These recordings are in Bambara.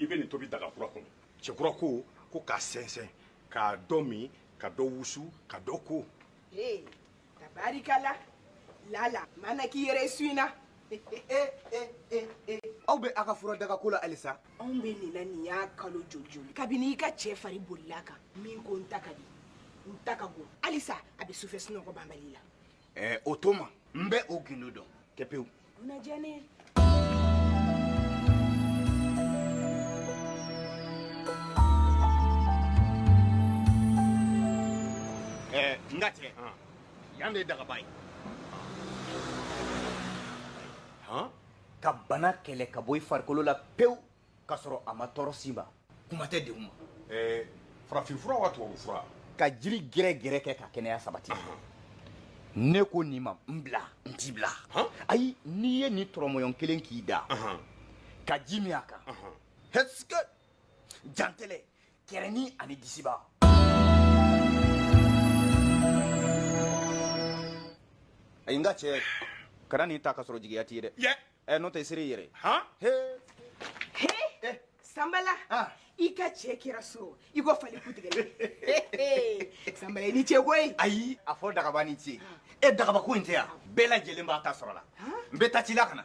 i bɛ nin tobi daga kura kɔnɔ cɛ kura ko ko k'a sɛnsɛn ka dɔ min ka dɔ wusu ka dɔ ko. ee tabarikala lala mana k'i yɛrɛ su in na. aw bɛ a ka fura daga ko la halisa. anw bɛ nin na nin y'a kalo joli joli kabini i ka cɛ fari bolila a kan min ko n ta ka di n ta ka go halisa a bɛ sufɛ sunɔgɔ banbali la ɛɛ o tuma n bɛ o gindo dɔn kɛ pewu dunajɛni ɛɛ n ka tɛ yan de ye dagaba ye ka bana kɛlɛ ka bɔ i farikolo la pewu ka sɔrɔ a ma tɔɔrɔ s'i ma kuma tɛ dɛgun ma eh, farafinfura wa tubabufura ka jiri gɛrɛgɛrɛ kɛ ka kɛnɛya sabati ne ko nin ma n bila n t'i bila ayi n'i ye nin tɔrɔmɔyɔn kelen k'i da ka ji min a kan est-ce que jantɛlɛ kɛrɛni ani disiba ayi nka cɛ kana nin ta ka sɔrɔ jigiya t'i ye dɛ yɛ ɛ n'o tɛ i ser'i yɛrɛ han he he sanbala Ah. i ka cɛ kɛra so i ko fali kutigɛlen sanbala i ni cɛ koyi ayi a fɔ dagaba ni ce e dagaba ko in tɛ yan bɛɛ lajɛlen b'a ta sɔrɔ la n bɛ taa ci la ka na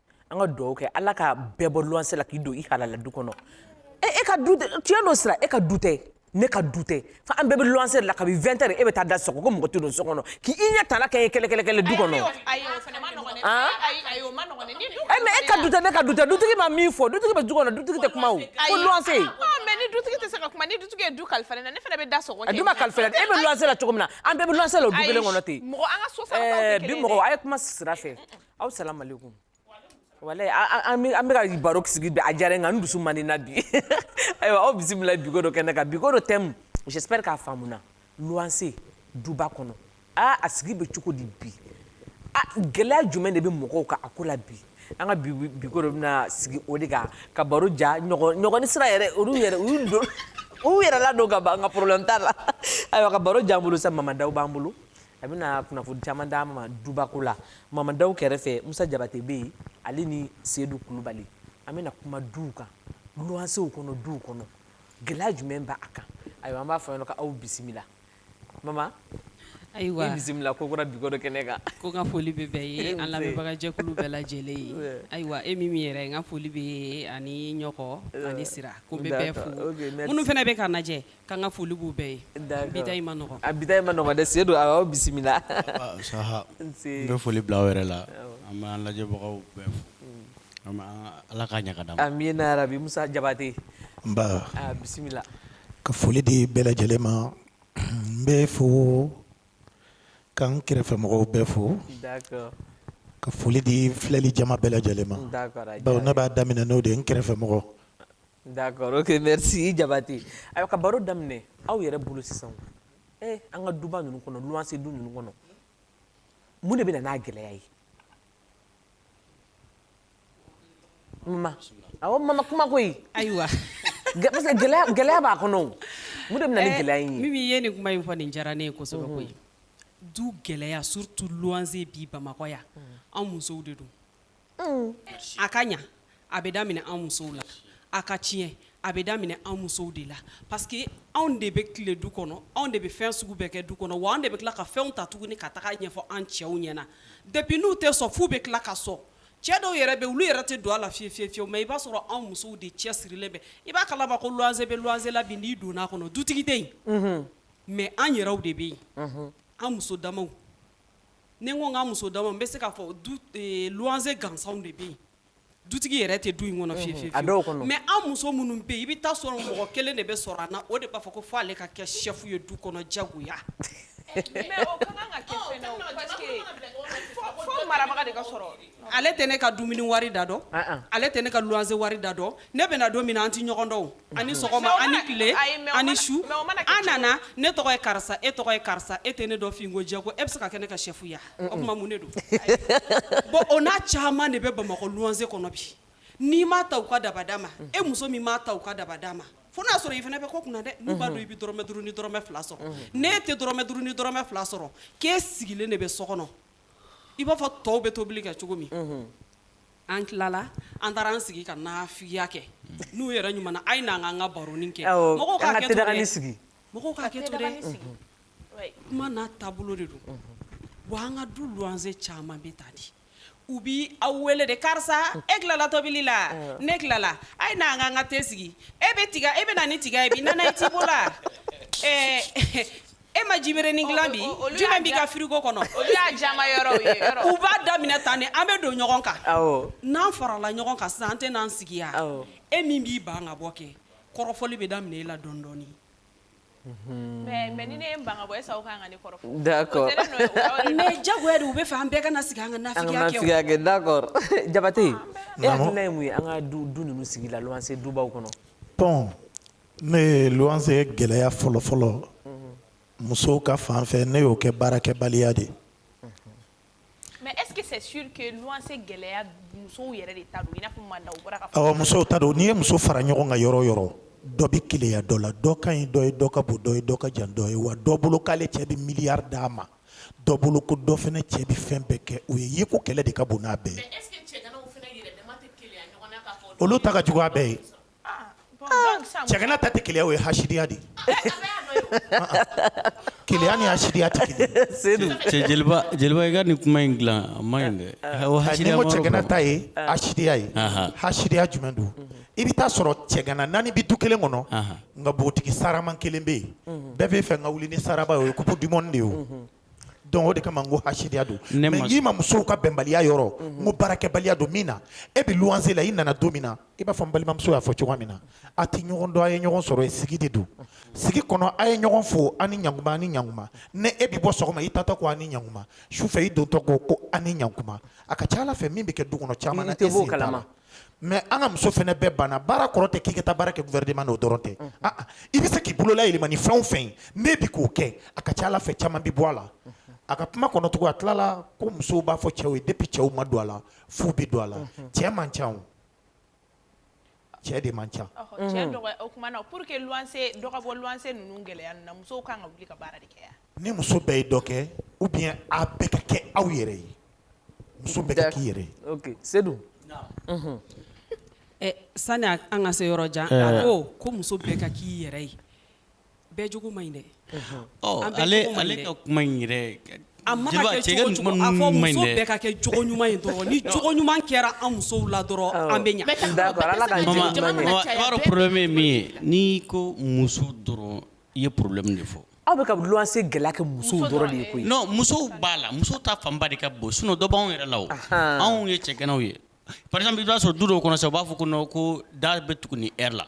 an ka dugawu kɛ ala ka bɛɛ bɔ luwanse la k'i don i halala du kɔnɔ e, e ka du tiɲɛ don sira e ka du tɛ ne ka du tɛ fa an bɛɛ bɛ luwanse de la kabi 20 heures e bɛ taa da sɔgɔ ko mɔgɔ tɛ don so kɔnɔ k'i i ɲɛ tala kɛ ye kɛlɛkɛlɛkɛlɛ du kɔnɔ mais e ka du tɛ ne ka du tɛ dutigi ma min fɔ dutigi bɛ du kɔnɔ dutigi tɛ kuma o ko luwanse ni dutigi tɛ se ka kuma ni dutigi ye du kalifa ne na ne fana bɛ da sɔgɔ a du ma kalifa e bɛ luwanse la cogo min na an bɛɛ bɛ luwanse la o du kelen kɔnɔ ten bi mɔgɔ a ye kuma sira fɛ aw salamalekum wala an bɛ ka baro sigi bi a diyara nka dusu man na bi ayiwa aw bisimila bi ko dɔ kɛnɛ kan bi ko dɔ thème j'espère k'a faamuna luwanse duba kɔnɔ aa a sigi bɛ cogo di bi gɛlɛya jumɛn de bɛ mɔgɔw kan a ko la bi an ka bi ko dɔ bɛna sigi o de kan ka baro diya ɲɔkɔ ni sira yɛrɛ olu yɛrɛ u don u yɛrɛ la don ka ban nka problème t'a la ayiwa ka baro diya an bolo sa mamadaw b'an bolo a bɛna kunnafoni caman d'an ma dubako la mamadaw kɛrɛfɛ musa jabate bɛ yen ale ni sedu kulubali an bɛna kuma duw kan luwansew kɔnɔ duw kɔnɔ gɛlɛya jumɛn b'a kan ayiwa an b'a fɔ ɲɛna aw bisimila mama ayiwa bisimila ko kura bi ko dɔ kɛnɛ kan ko ka foli bɛ bɛɛ ye an lamɛnbagajɛkulu bɛɛ lajɛlen ye ayiwa e mimi yɛrɛ n ka foli b'e ye ani ɲɔkɔ ani sira ko n bɛ bɛɛ fo minnu fana bɛ k'an lajɛ K'an ka foli b'u bɛɛ ye, d'accord bi ta in ma nɔgɔ, a bi ta in ma nɔgɔ dɛ, Sedu a y'aw bisimila, saha n bɛ foli bila aw yɛrɛ la, awɔ, an bɛ an lajɛbagaw bɛɛ fo, an bɛ Ala k'a ɲɛ ka d'an ma, amina yarabi, Musa Jabate, nba, a bisimila, ka foli di bɛɛ lajɛlen ma, n bɛ fo ka n kɛrɛfɛ mɔgɔw bɛɛ fo, d'accord ka foli di filɛlijama bɛɛ lajɛlen ma, d'accord a diyara n ye, bawo ne b'a daminɛ n'o de ye n kɛrɛfɛ mɔgɔ D'accord ok merci Jabate ayiwa ka baro daminɛ aw yɛrɛ bolo sisan ee an ka duba ninnu kɔnɔ luwanse du ninnu kɔnɔ mun de bɛ na n'a gɛlɛya ye Mama kuma koyi ayiwa gɛlɛya b'a kɔnɔ mun de bɛ na ni gɛlɛya in ye min ye nin kuma in fɔ nin diyara ne ye kosɛbɛ koyi du gɛlɛya surtout luwanse bi bamakɔ yan an musow de don a ka ɲa a bɛ daminɛ anw musow la a ka tiɲɛ a bɛ daminɛ anw musow de la parce que anw de bɛ tile du kɔnɔ anw de bɛ fɛn sugu bɛɛ kɛ du kɔnɔ wa anw de bɛ tila ka fɛnw ta tuguni ka taga ɲɛfɔ an cɛw ɲɛ na depuis n'u tɛ sɔn f'u bɛ tila ka sɔn cɛ dɔw yɛrɛ bɛ olu yɛrɛ tɛ don a la fi fi fiyewu mais i b'a sɔrɔ anw musow de cɛ sirilen bɛ i b'a kalama ko luwanse bɛ luwanse la bi n'i donna a kɔnɔ dutigi tɛ yen mais an yɛrɛw de bɛ yen an muso damaw ni n ko k'an muso dama n bɛ se k'a fɔ luwanse gansanw de bɛ yen dutigi yɛrɛ tɛ du in kɔnɔ fiyewu mais an muso minnu bɛ yen i bɛ taa sɔrɔ mɔgɔ kelen de bɛ sɔrɔ an na o de b'a fɔ ko fo ale ka kɛ chef ye du kɔnɔ jagoya Ale tɛ ne ka dumuni wari da dɔn ale tɛ ne ka luwanse wari da dɔn ne bɛ na don min an tɛ ɲɔgɔn dɔn a ni sɔgɔma a ni tile a ni su an nana ne tɔgɔ ye karisa e tɔgɔ ye karisa e tɛ ne dɔn fɛnko jago e bɛ se ka kɛ ne ka chef ye o tuma mun de don bon o n'a caman de bɛ bamakɔ luwanse kɔnɔ bi n'i m'a ta u ka dabada ma e muso min m'a ta u ka dabada ma fo n'a sɔrɔ i fana bɛ ko kun na dɛ n'u b'a dɔn i bɛ dɔrɔmɛ duuru ni dɔrɔmɛ fila sɔrɔ n'e tɛ dɔrɔmɛ duuru ni dɔrɔmɛ fila sɔrɔ k'e sigilen de bɛ so kɔnɔ i b'a fɔ tɔw bɛ tobili kɛ cogo min an tilala an taara an sigi ka nafigiya kɛ n'u yɛrɛ ɲuman a ye n'an k'an ka baronin kɛ mɔgɔw k'a kɛ to dɛ kuma n'a taabolo de don wa an ka du luwanse caman bɛ taa di u bɛ aw wele de karisa e tilala tobili la ne tilala a ye n'an k'an ka te sigi e bɛ na ni tiga ye i bɛ ci la E ma jiberenin dilan bi jumɛn b'i ka frigo kɔnɔ u b'a daminɛ tan de an bɛ don ɲɔgɔn kan n'an farala ɲɔgɔn kan sa an tɛ n'an sigi yan e min b'i ban ka bɔ kɛ kɔrɔfɔli bɛ daminɛ e la dɔɔni dɔɔni mais jagoya de u bɛ fɛ an bɛɛ ka na sigi an ka nafigiya kɛ Jabate e hakilina ye mun ye an ka du ninnu sigi la luwanse dubaw kɔnɔ Ne ye luwanse gɛlɛya fɔlɔfɔlɔ musow ka fan fɛ ne y'o kɛ baarakɛbaliya de mais musow ta don n'i ye muso fara ɲɔgɔn kan yɔrɔ o yɔrɔ dɔ bɛ keleya dɔ la dɔ ka ɲi dɔ ye dɔ ka bon dɔ ye dɔ ka jan dɔ ye wa dɔ bolo k'ale cɛ bɛ miliyari d'a ma dɔ bolo ko dɔ fana cɛ bɛ fɛn bɛɛ kɛ o ye yeko kɛlɛ de ka bon n'a bɛɛ ye olu ta ka jugu a bɛɛ ye Cɛgana ta tɛ keleya o ye hasidiya de keleya ni hasidiya tɛ kelen jeliba i ka nin kuma in dilan a ma ɲi dɛ cɛgana ta ye hasidiya ye hasidiya jumɛn don i bɛ taa sɔrɔ cɛgana naani bɛ du kelen kɔnɔ nka npogotigi sarama kelen bɛ yen bɛɛ b'a fɛ n ka wuli ni saraba ye o ye coupe du monde de ye Donc o de kama n ko hasidiya don, ne ma, mais n k'i ma musow ka bɛnbaliya yɔrɔ, n ko baarakɛbaliya don min na e bɛ luwanse la i nana don min na i b'a fɔ n balimamuso y'a fɔ cogoya min na a tɛ ɲɔgɔn dɔn a ye ɲɔgɔn sɔrɔ yen sigi de don, sigi kɔnɔ a ye ɲɔgɔn fo a ni ɲantuma a ni ɲantuma ni e bɛ bɔ sɔgɔma i taatɔ ko a ni ɲantuma sufɛ i dontɔ ko ko a ni ɲantuma a ka ca a la fɛn min bɛ kɛ du kɔnɔ caman na e sen t'a la mais an ka muso fana bɛɛ banna baara kɔrɔ tɛ k'i ka taa baara kɛ gouvernement na o dɔrɔn tɛ i bɛ se k'i bolola yɛlɛma ni fɛn o fɛn ye n'e bɛ k'o kɛ a ka ca a la fɛn caman bɛ bɔ a la a ka kuma kɔnɔ tugun a tilala ko musow b'a fɔ cɛw ye depuis cɛw ma don a la f'u bɛ don a la cɛ man ca cɛ de man ca Ni muso bɛɛ ye dɔ kɛ ou bien a bɛɛ ka kɛ aw yɛrɛ ye muso bɛɛ ka k'i yɛrɛ ye Seydou sani an ka se yɔrɔ jan a ko ko muso bɛɛ ka k'i yɛrɛ ye bɛɛ jogo man ɲi dɛ ale ka kuma yɛrɛ a ma muso bɛɛ ka kɛ jogo ɲuman ye dɔrɔn ni jogo ɲuman kɛra an musow la dɔrɔn an bɛ ɲɛ Ala ka problème ye min ye n'i ko muso dɔrɔn I ye problème de fɔ aw bɛ ka luwanse gɛlɛya kɛ muso dɔrɔn de ye koyi non musow b'a la musow ta fanba de ka bon sinon dɔ b'anw yɛrɛ la anw ye cɛganaw ye par exemple i b'a sɔrɔ du dɔw kɔnɔ sa u b'a fɔ ko ko da bɛ tugu nin heure la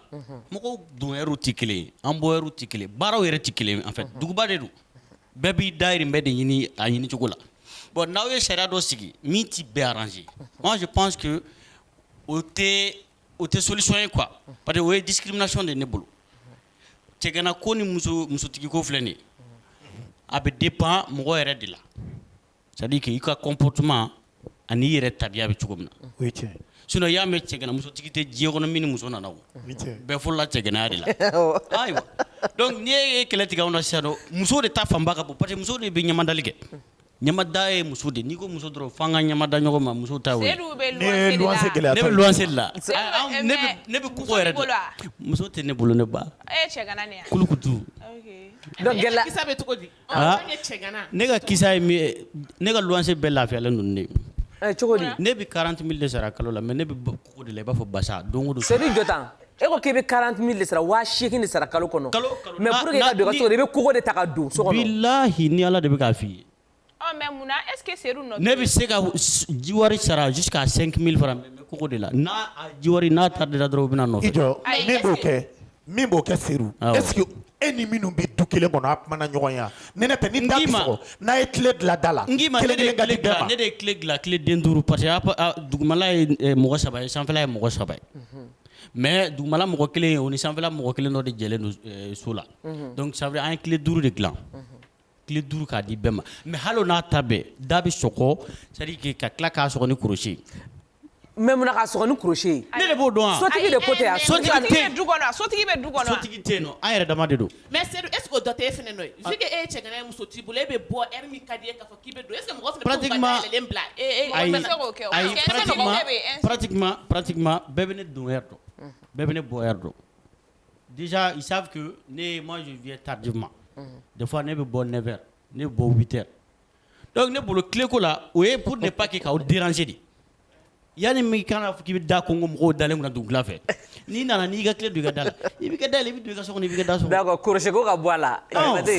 mɔgɔw don heure tɛ kelen ye an bɔ heure tɛ kelen baaraw yɛrɛ tɛ kelen en fait duguba de don bɛɛ b'i dayirimɛ de ɲini a ɲini cogo la bon n'aw ye sariya dɔ sigi min tɛ bɛɛ arranger moi je pense que o tɛ solution ye quoi parce que o ye discrimination de ne bolo cɛgana ko ni muso musotigi ko filɛ nin a bɛ dépend mɔgɔ yɛrɛ de la c'est-à-dire que i ka comportement ani i yɛrɛ tabiya bɛ cogo min na sinon i y'a mɛn cɛgana musotigi tɛ diɲɛ kɔnɔ min ni muso nana o bɛɛ fɔlɔla cɛganaya de la ayiwa donc n'i ye kɛlɛ tigɛ anw na sisan muso de ta fanba ka bon parce que muso de bɛ ɲamadali kɛ Ɲamada ye muso de n'i ko muso dɔrɔn fo an ka ɲamada ɲɔgɔn ma muso ta y'o ye Seyidu bɛ luwanse de la ne ye luwanse gɛlɛya ne bɛ luwanse de la Seyidu bɛ ɛ ne bɛ mais ne bɛ koko yɛrɛ de muso b'i bolo wa muso tɛ ne bolo ne ba e ye cɛgana de ye wa kulukutu ok donc gɛlɛya kisa bɛ cogo di ɔ aa n'o ye cɛgana ne ka kisa ye min ye ne ka luwanse bɛɛ lafiyalen don ni ne ye ɛ cogo di ne bɛ 40000 de sara kalo la mais ne bɛ ko O de la i b'a fɔ basa don o don c'est à dire jɔ tan e ko k'i bɛ 40 mille de sara 8000 de sara kalo kɔnɔ kalo kalo mais pour que i ka don i ka so kɔnɔ i bɛ koko de ta ka don so kɔnɔ bilahi ni Ala de bɛ k'a f'i ye ɔ mais mun na est ce que Sedu nɔ tɛ ne bɛ se ka jiwari sara jusqu'à 5000 francs mais n bɛ koko de la n'a jiwari n'a tardera dɔrɔn u bɛna nɔfɛ i jɔ ayi ne b'o kɛ min b'o kɛ Seyidu est ce que e ni minnu bɛ du kelen kɔnɔ aw kumana ɲɔgɔn ye wa ne ne tɛ ni da bɛ sɔgɔ n'a ye clé dilan da la kelen kelen ka di bɛɛ ma ne de ye clé dilan clé den duuru parce que dugumala ye mɔgɔ saba ye sanfɛla ye mɔgɔ saba ye mais dugumala mɔgɔ kelen ye o ni sanfɛla mɔgɔ kelen dɔ de jɛlen don so la donc ça veut dire an ye clé duuru de dilan. tile duuru k'a di bɛɛ ma mɛ hali n'a ta bɛɛ da bɛ sɔkɔ sarike ka tila k'a sɔgɔ ni kɔlɔsi mɛ munna ka sɔgɔ ni kɔlɔsi ne de b'o dɔn sotigi de ko tɛ sotigi sotigi sotigi an yɛrɛ dama de don mɛ sedu e dɔ tɛ e fana don fi e ye cɛ muso t'i bolo e bɛ bɔ e min ka di e k'i bɛ don e mɔgɔ bila bɛɛ bɛ ne don dɔn bɛɛ bɛ ne bɔ dɔn Disa i saku ne ma sunjata ta di ma defa ne bɛ bɔ ne fɛ ne bɔ tɛ dɔnku ne bolo tileko la o ye p de ba kɛ k'aw diranse de yanani min kan fɔ k' bɛ da ko ko mɔgɔw dalen min dugu fɛ n'i nana n'i ka tile da la i bɛ da i bɛ ka so i bɛ da so kosi ka bɔ a la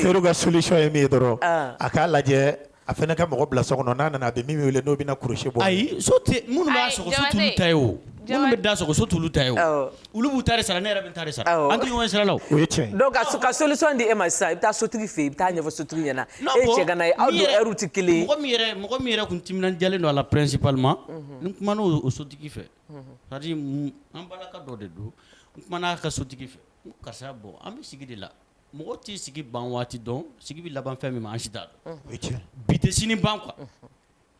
so ka sosɔn ye min ye dɔrɔn a k'a lajɛ A fana ka mɔgɔ bila so kɔnɔ n'a nana a bɛ min wele n'o bɛna crochet bɔ ayi so tɛ minnu b'a sɔgɔ so t'olu ta ye o minnu bɛ da sɔgɔ so t'olu ta ye o olu b'u ta de sara ne yɛrɛ bɛ n ta de sara an tɛ ɲɔgɔn sira la o o ye tiɲɛ donc ka solution di e ma sisan i bɛ taa sotigi fɛ yen i bɛ taa a ɲɛfɔ sotigi ɲɛna e ye cɛgana ye aw don heure tɛ kelen ye mɔgɔ min yɛrɛ tun timinandiyalen don a la principalement n kumana o sotigi fɛ c'est à dire an balaka dɔ de don n kumana a ka sotigi fɛ karisa bɔ an bɛ sigi de la Mɔgɔ t'i sigi ban waati dɔn sigi bɛ laban fɛn min ma an si t'a dɔn bi tɛ sini ban quoi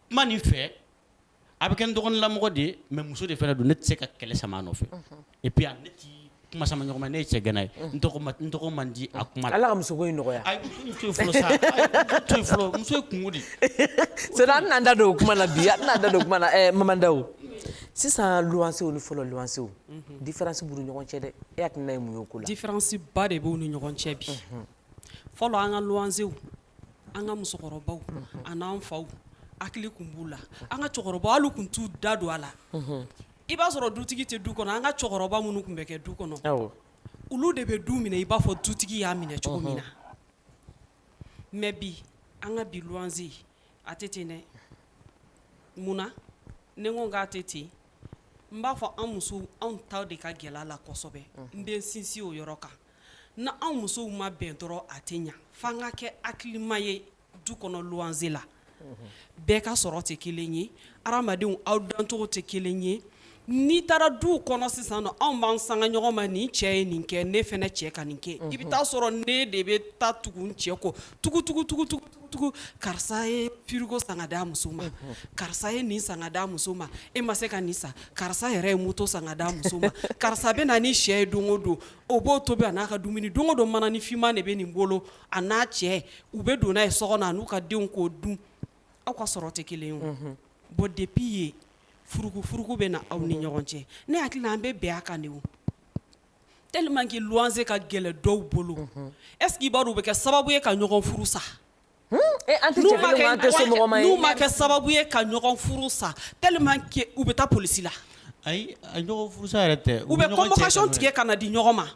kuma nin fɛ a bɛ kɛ n dɔgɔninlamɔgɔ de ye mais muso de fana don ne tɛ se ka kɛlɛ sama a nɔfɛ et puis ne tɛ kuma sama ɲɔgɔn ma ne ye cɛgana ye n tɔgɔ man di a kuma la Ala ka musoko in nɔgɔya ayi muso to yen fɔlɔ sa muso to yen fɔlɔ muso ye kunko de sinon an tɛna da don o kuma na bi an tɛna da don o kuma na Maman Daw sisan luwansew ni fɔlɔ luwansew différence b'u ni ɲɔgɔn cɛ dɛ e hakilina ye mun ye o ko la différence ba de b'u ni ɲɔgɔn cɛ bi fɔlɔ an ka luwansew an ka musokɔrɔbaw ani an faw hakili tun b'u la an ka cɛkɔrɔba olu tun t'u da don a la i b'a sɔrɔ dutigi tɛ du kɔnɔ an ka cɛkɔrɔba minnu tun bɛ kɛ du kɔnɔ olu de bɛ du minɛ i b'a fɔ dutigi y'a minɛ cogo min na mais bi an ka bi luwansew a tɛ ten dɛ munna ne ko k'a tɛ ten n b'a fɔ anw musow anw ta de ka gɛlɛn a la kosɛbɛ n bɛ sinsin o yɔrɔ kan n' anw musow ma bɛn dɔrɔn a tɛ ɲɛ fo an ka kɛ hakilima ye du kɔnɔ luwanse la bɛɛ ka sɔrɔ tɛ kelen ye hadamadenw aw dancogo tɛ kelen ye N'i taara du kɔnɔ sisan anw b'an sanga ɲɔgɔn ma nin cɛ ye nin kɛ ne fɛnɛ cɛ ka nin kɛ i bɛ taa sɔrɔ ne de bɛ taa tugu n cɛ kɔ tugutugutugutugu karisa ye frigo san ka d'a muso ma karisa ye nin san ka d'a muso ma e ma se ka nin san karisa yɛrɛ ye moto san ka d'a muso ma karisa bɛ na ni sɛ ye don o don o b'o tobi a n'a ka dumuni don o don mananin finman de bɛ nin bolo a n'a cɛ u bɛ don n'a ye so kɔnɔ a n'u ka denw k'o dun aw ka sɔrɔ tɛ kelen ye o bon depuis ye furukufuruku bɛ na aw ni ɲɔgɔn cɛ ne hakili la an bɛ bɛn a kan de o tellement que luwanse ka gɛlɛn dɔw bolo est-ce qu'i b'a dɔn u bɛ kɛ sababu ye ka ɲɔgɔn furu sa n'u ma kɛ sababu ye ka ɲɔgɔn furu sa tellement que u bɛ taa polisi la Ayi a ɲɔgɔn furusa yɛrɛ tɛ u bɛ convocation tigɛ ka na di ɲɔgɔn ma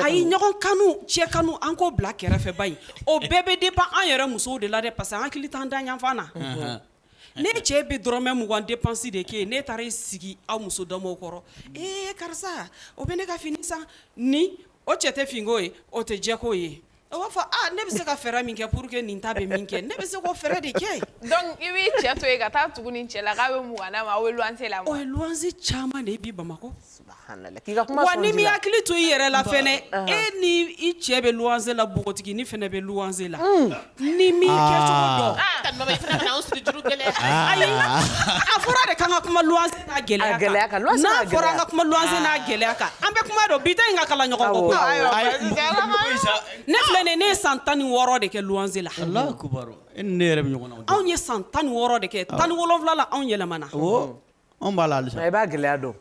ayi ɲɔgɔn kanu cɛ kanu an k'o bila kɛrɛfɛ bani o bɛɛ bɛ dépend an yɛrɛ musow de la dɛ parce que an hakili t'an danfan na ne cɛ bɛ dɔrɔmɛ mugan dépense de kɛ ne taara i sigi aw muso damaw kɔrɔ ee karisa o bɛ ne ka fini san ni o cɛ tɛ finko ye o tɛ jɛko ye A b'a fɔ ne bɛ se ka fɛɛrɛ min kɛ pour que nin ta bɛ min kɛ ne bɛ se k'o fɛɛrɛ de kɛ donc i b'i cɛ to yen ka taa tugu nin cɛ la k'a bɛ mɔgɔ ma aw bɛ luwanse la o ye luwanse caman de ye bi Bamakɔ n'i m'i hakili to i yɛrɛ la fɛnɛ e ni i cɛ bɛ luwanse la npogotiginin fɛnɛ bɛ luwanse la n'i m'i kɛcogo dɔn ayi a fɔra de k'an ka kuma gɛlɛya kan n'a fɔra an ka kuma luwanse n'a gɛlɛya kan an bɛ kuma don bi ta in ka kalan ɲɔgɔn kɔ ne filɛ nin ne ye san tan ni wɔɔrɔ de kɛ luwanse la anw ye san tan ni wɔɔrɔ de kɛ tan ni wolonwula la anw yɛlɛmana anw b'a la halisa i b'a gɛlɛya dɔn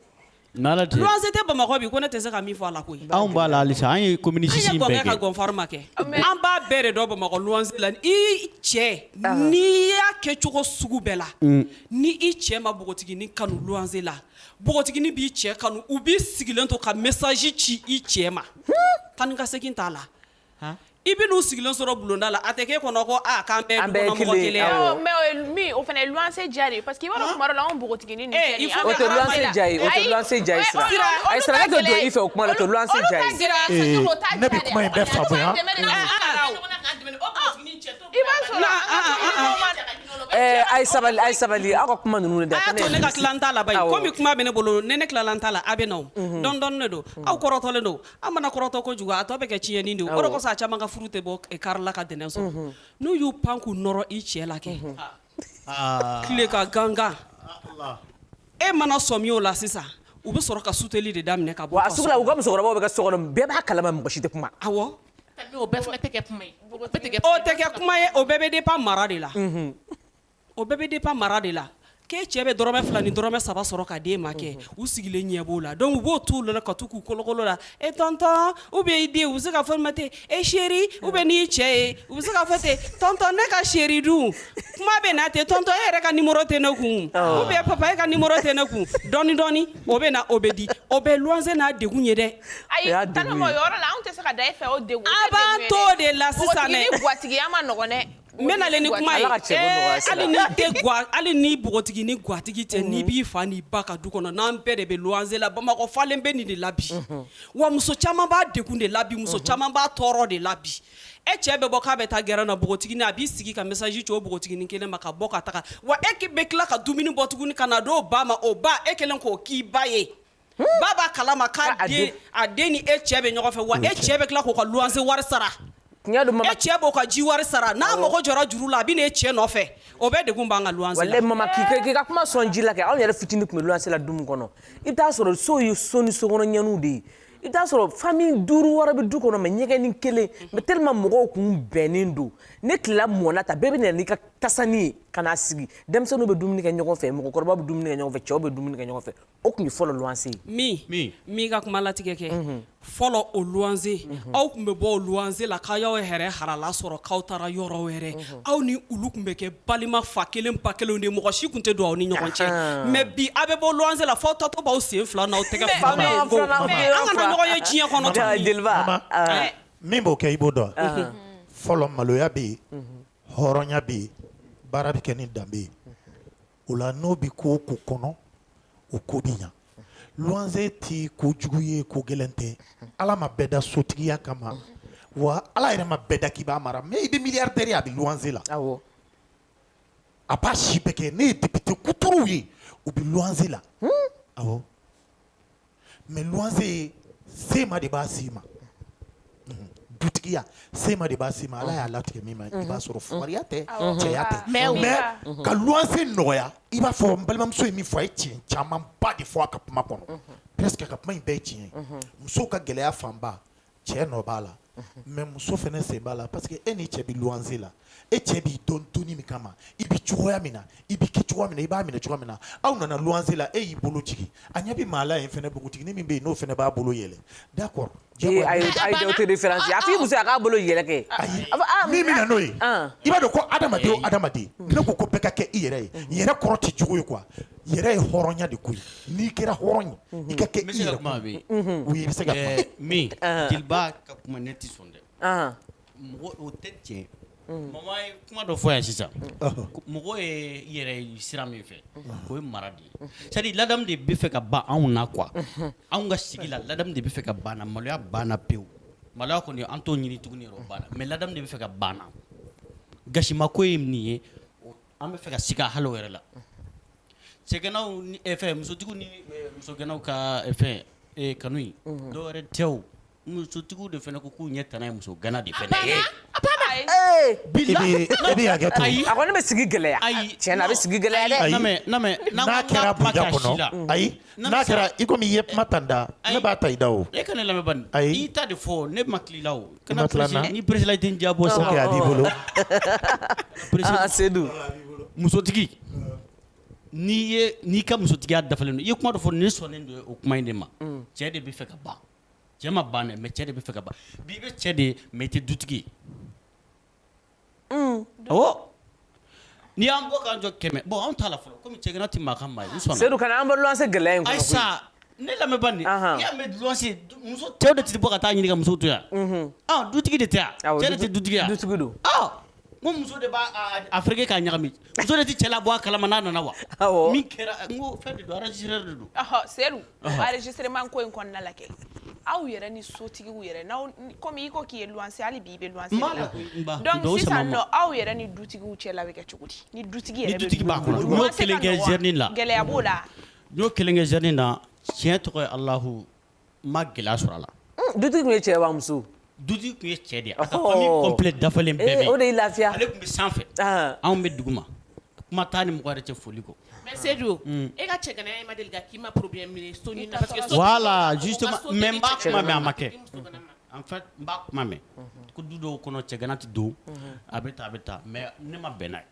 n'Ala tɛ luwanse tɛ Bamakɔ bi ko ne tɛ se ka min fɔ a la koyi anw b'a la halisa an ye commune six in bɛɛ kɛ an ye gɔngɛ ka gɔnfari ma kɛ an b'a bɛɛ de dɔn Bamakɔ luwanse la i cɛ n'i y'a kɛ cogo sugu bɛɛ la ni i cɛ ma npogotiginin kanu luwanse la npogotiginin b'i cɛ kanu u b'i sigilen to ka message ci i cɛ ma taa ni ka segin t'a la i bɛ n'u sigilen sɔrɔ bulonda la a tɛ k'e kɔnɔ ko aw fana ja parce que bɛ fɛ I b'a sɔrɔ non an ka tɔn ɲɛmɔgɔ ma daga jigin o la, o bɛ Ɛɛ, cɛya a ye sabali, a ye sabali, aw ka kuma ninnu dabila. A y'a to ne ka tila n ta la bayi, Awɔ. komi kuma bɛ ne bolo, ni ne tilala n ta la, a bɛ na o. Unhun. Dɔɔni dɔɔni de don. Aw kɔrɔtɔlen don. An mana kɔrɔtɔ kojugu, a tɔ bɛ kɛ tiɲɛni de ye o. Awɔ. O de kosɔn a caaman ka furu tɛ bɔ kari la ka ntɛnɛn sɔrɔ. Unhun. N'u y'u pan k'u nɔrɔ i cɛ la kɛ. Unhun. tile ka gankan e mana sɔmi o la sisan u bɛ sɔrɔ ka suteli de daminɛ ka bɔ sugu la u ka musokɔrɔbaw bɛ kɛ so kɔnɔ bɛɛ b'a kalama mɔgɔ si tɛ kuma o tɛ kɛ kuma ye o bɛɛ bɛ dépend mara de la o bɛɛ bɛ dépend mara de la k'e cɛ bɛ dɔrɔmɛ fila ni dɔrɔmɛ saba sɔrɔ ka d'e ma kɛ u sigilen ɲɛ b'o la donc u b'o t'u la ka taa k'u kolokolo la e tɔntɔn ou bien i den u bɛ se ka fɔ ma ten e chéri u bɛ n'i cɛ ye u bɛ se ka fɔ ten tɔntɔn ne ka chéri dun kuma bɛ na ten tɔntɔn e yɛrɛ ka numéro tɛ ne kun ou bien papa e ka numéro tɛ ne kun dɔɔni dɔɔni o bɛ na o bɛ di o bɛ luwanse n'a degun ye dɛ ayi o yɔrɔ la anw tɛ se ka da e fɛ a b'a to de la sisan gatigiya man nɔgɔn dɛ N bɛ na le ni kuma ye hali ni npogotiginin gatigi tɛ n'i b'i fa n'i ba ka du kɔnɔ n'an bɛɛ de bɛ luwanse la bamakɔ falen bɛ nin de la bi wa muso caman b'a degun de la bi muso caman b'a tɔɔrɔ de la bi e cɛ bɛ bɔ k'a bɛ taa gɛrɛn na npogotiginin a b'i sigi ka message ci o npogotiginin kelen ma ka bɔ ka taga wa e bɛ tila ka dumuni bɔ tuguni ka na d'o ba ma o ba e kɛlen k'o k'i ba ye Ba b'a kalama k'a den ni e cɛ bɛ ɲɔgɔn fɛ wa e cɛ bɛ tila k'o ka luwanse wari sara e cɛ b'o ka ji wari sara n'a mago jɔra juru la a bɛ n'e cɛ nɔfɛ o bɛɛ degun b'an ka luwanse la walayi mama k'i ka kuma sɔn ji la kɛ anw yɛrɛ fitinin tun bɛ luwanse la du min kɔnɔ i bɛ t'a sɔrɔ so ye so ni so ninnu de ye i bɛ t'a sɔrɔ famille duuru wɔɔrɔ bɛ du kɔnɔ mais ɲɛgɛnnin kelen mais tellement mɔgɔw tun bɛnnen don ni tilela mɔna ta bɛɛ bɛ na n'i ka tasanin ye ka na sigi denmisɛnninw bɛ dumuni kɛ ɲɔgɔn fɛ mɔgɔkɔrɔba bɛ dumuni kɛ ɲɔgɔn fɛ cɛw bɛ dumuni kɛ ɲɔgɔn fɛ o tun ye fɔlɔ luwanse ye n m'i n m'i ka kuma latigɛ kɛ unhun fɔlɔ o luwanse unhun aw tun bɛ bɔ o luwanse la k'aw y'aw yɛrɛ halala sɔrɔ k'aw taara yɔrɔ wɛrɛ unhun aw ni olu tun bɛ kɛ balima fa kelen ba kelenw de ye mɔgɔ si tun tɛ don aw ni ɲɔgɔn cɛ ahaan mais bi aw bɛ bɔ luwanse la f'aw taatɔ b'aw sen fila n'aw tɛgɛ fila n'aw bolo fila an kana ɲɔgɔn ye diɲɛ kɔnɔ Jaa, tuguni jeliba Mama, aa, min b'o kɛ i b'o dɔn wa? ahan, fɔlɔ maloya bɛ yen hɔrɔnya bɛ yen baara bɛ kɛ ni danbe ye o la n'o bɛ ko ko kɔnɔ o ko bɛ ɲa luwanse tɛ ko jugu ye ko gɛlɛn tɛ ala ma bɛɛ da sotigiya kama wa ala yɛrɛ ma bɛɛ da k'i b'a mara mais i bɛ milliardaire ye a bɛ luwanse la a b'a si bɛɛ kɛ ne ye député kuturuw ye u bɛ luwanse la mais luwanse sema de b'a s'i ma, unhun, dutigiya sema de b'a s'i ma Ala y'a latigɛ min ma i b'a sɔrɔ fugariya tɛ cɛya tɛ mais ka luwanse nɔgɔya i b'a fɔ n balimamuso ye min fɔ a ye tiɲɛ camanba de fɔ a ka kuma kɔnɔ, unhun, presque a ka kuma in bɛɛ ye tiɲɛ ye, unhun, musow ka gɛlɛya fanba cɛ nɔ b'a la mais muso fana sen b'a la parce que e ni cɛ bɛ luwanse la e cɛ b'i dɔn to min kama i bɛ cogoya min na i bɛ kɛ cogoya min na i b'a minɛ cogoya min na aw nana luwanse la e y'i bolo jigin a ɲɛ bɛ maa la yen fana npogotiginin min bɛ yen n'o fana b'a bolo yɛlɛ d'accord a muso a k'a bolo yɛlɛ kɛ ayi min bɛ na n'o ye i b'a dɔn ko adamaden o adamaden ne ko ko bɛɛ ka kɛ i yɛrɛ ye yɛrɛ kɔrɔ tɛ jugu ye quoi yɛrɛ ye hɔrɔnya de koyi n'i kɛra hɔrɔn ye i ka kɛ i yɛrɛ ye oui i bɛ se ka kuma min jeliba ka kuma ne tɛ sɔn dɛ mɔgɔ o tɛ tiɲɛ mama ye kuma dɔ fɔ yan sisan mɔgɔ ye yɛrɛ ye sira min fɛ o ye mara de ye c'est à dire ladamu de bɛ fɛ ka ban anw na quoi anw ka sigi la ladamu de bɛ fɛ ka ban an na maloya banna pewu maloya kɔni an t'o ɲini tuguni yɛrɛ o banna mais ladamu de bɛ fɛ ka ban an na gasima ko ye nin ye An bɛ fɛ ka siga hali o yɛrɛ la cɛganaw ni fɛn musotigiw ni musoganaw ka fɛn kanu in dɔ wɛrɛ tɛ o musotigiw de fana ko k'u ɲɛ tana ye musogana de fana ye bɛ sigi gɛlɛya ayi tiɲɛ na a bɛ sigi gɛlɛya ayi N'a kɛra i komi i ye kuma ta n da, ayi, ne b'a ta i da o, e ka ne lamɛn bani, ayi, i y'i ta de fɔ ne ma tila i la o, i ma tila n na, kana ni peresila i tɛ n jabɔ sa, ok a b'i bolo, aa Sedu, musotigi n'i ye n'i ka musotigiya dafalen don i ye kuma dɔ fɔ ne sɔnnen don o kuma in de ma, un, cɛ de bɛ fɛ ka ban, cɛ ma ban dɛ mais cɛ de bɛ fɛ ka ban, bi i bɛ cɛ de ye mais i tɛ dutigi ye N'i y'an bɔ jɔ kɛmɛ bɔn anw ta fɔlɔ kɔmi cɛ tɛ maa ka maa sedu ka an bɛse gɛlɛya in sa ne lamɛn cɛw de tɛ bɔ ka taa ɲini muso to yan dutigi de tɛ cɛ tɛ dutigiya du don ko muso de b'a fke k'a ɲagami muso de tɛ cɛla bɔ a kala' nana wa kɛra don enregistrement ko in kɔnɔna la kɛ aw yɛrɛ ni sotigiw yɛrɛ n'aw comme i ko k'i ye luwanse hali bi i bɛ luwanse de la donc sisan nɔ aw yɛrɛ ni dutigiw cɛ la bɛ kɛ cogo di ni dutigi yɛrɛ b'a kɔnɔ. N y'o kelen kɛ zɛrɛni la. gɛlɛya b'o la n y'o kelen kɛ zɛrɛni na tiɲɛ tɔgɔ ye alahu n ma gɛlɛya sɔrɔ a la dutigi tun ye cɛ wa muso Du tun ye cɛ de ye dafalen bɛɛ o de lafiya ale tun bɛ sanfɛ anw bɛ dugu ma kuma taa ni mɔgɔ cɛ foli kɔ mɛ sedu e ka cɛ e ma deli k'i ma pbi minɛ a ma kɛ an kuma mɛn ko du dɔw kɔnɔ cɛgana tɛ don a bɛ taa a bɛ taa mɛ ne ma bɛnna ye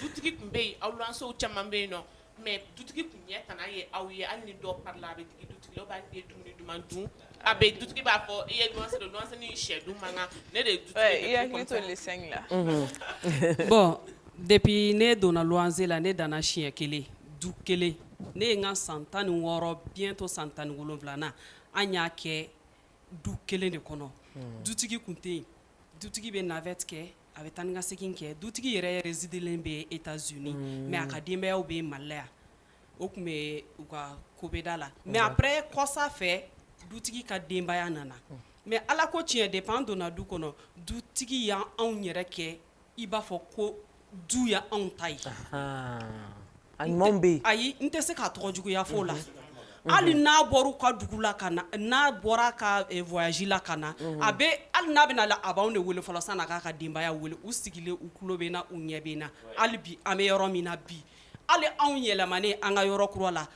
Du tun bɛ yen awlanso caman bɛ yen nɔ mɛ du tun ɲɛ tan ye aw ye hali ni dɔ la a bɛ duman dun a bɛ du b'a fɔ i ye sɛ man kan ne de bɔn depi ne donna wanse la ne nana siɲɛ kelen du kelen ne ye n ka san tan ni wɔɔrɔ bitɔ san tan ni wolonwula an y'a kɛ du kelen de kɔnɔ dutigi tun tɛ yen dutigi bɛ nafɛt a bɛ taa ni ka segin kɛ dutigi yɛrɛ résidelen bɛ États-Unis mɛ a ka denbayaw bɛ Mali la yan o tun bɛ u ka ko bɛda la mɛ après kɔsa fɛ dutigi ka denbaya nana mɛ ala ko tiɲɛ depi an donna du kɔnɔ dutigi y' anw yɛrɛ kɛ i b'a fɔ ko du ye anw ta ye A ɲuman bɛ yen ayi n tɛ se k'a tɔgɔ juguya fɔ la hali n'a bɔra u ka dugu la ka na n'a bɔra ka voyage la ka na a bɛ hali n'a bɛna a b'an de wele fɔlɔ sani a k'a ka denbaya weele u sigilen u tulo bɛ na u ɲɛ bɛ na hali bi an bɛ yɔrɔ min na bi hali anw yɛlɛmanen an ka yɔrɔ kura la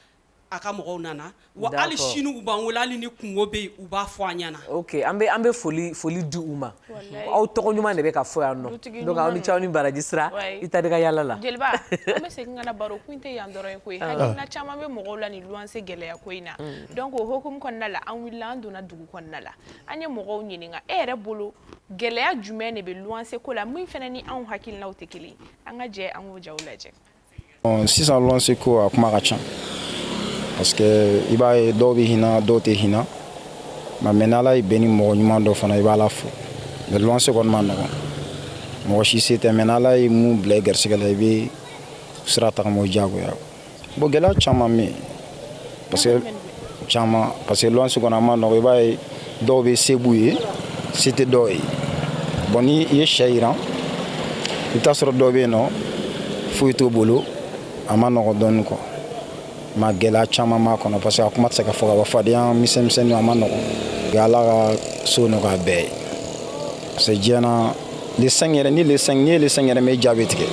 a ka mɔgɔw nana wa hali sini u b'an wele hali ni kunko bɛ yen u b'a fɔ an ɲɛna ok an bɛ foli di u ma aw tɔgɔ ɲuman de bɛ ka fɔ yan nɔ aw ni ce aw ni baraji sira i ta ka yala la jeliba an bɛ segin ka na baro kun tɛ yan dɔrɔn ye koyi hakilina caman bɛ mɔgɔw la ni luwanse gɛlɛya ko in na donc o hukumu kɔnɔna la an wulila an donna dugu kɔnɔna la an ye mɔgɔw ɲininka e yɛrɛ bolo gɛlɛya jumɛn de bɛ luwanse ko la min fana ni anw hakililaw tɛ kelen an ka jɛ an k'o jaw lajɛ Sisan luwanse ko a kuma ka ca parce que i b'a ye dɔw bɛ hinɛ dɔw tɛ hinɛ mɛ n'ala y'i bɛn ni mɔgɔ ɲuman dɔ fana i b'ala fo mɛ luwanse kɔni ma nɔgɔ mɔgɔ si se tɛ mɛ n'ala ye min bila i garisigɛ la i bɛ sira tagama o diyagoya bon gɛlɛya caman bɛ parce que caman parce que luwanse kɔni a ma nɔgɔ i b'a ye dɔw bɛ se b'u ye se tɛ dɔw ye bon ni i ye sɛ yiran i bɛ taa sɔrɔ dɔw bɛ yen nɔ foyi t'o bolo a ma nɔgɔ dɔɔni quoi mɛ gɛlɛya caman b'a kɔnɔ parce que a kuma tɛ se ka fɔ ka ban fadenya misɛnmisɛnninw a ma nɔgɔ ala ka so nɔgɔya bɛɛ ye Parce que diɲɛ na le cinq yɛrɛ ni le cinq n'i ye le cinq yɛrɛ mɛn i ja bɛ tigɛ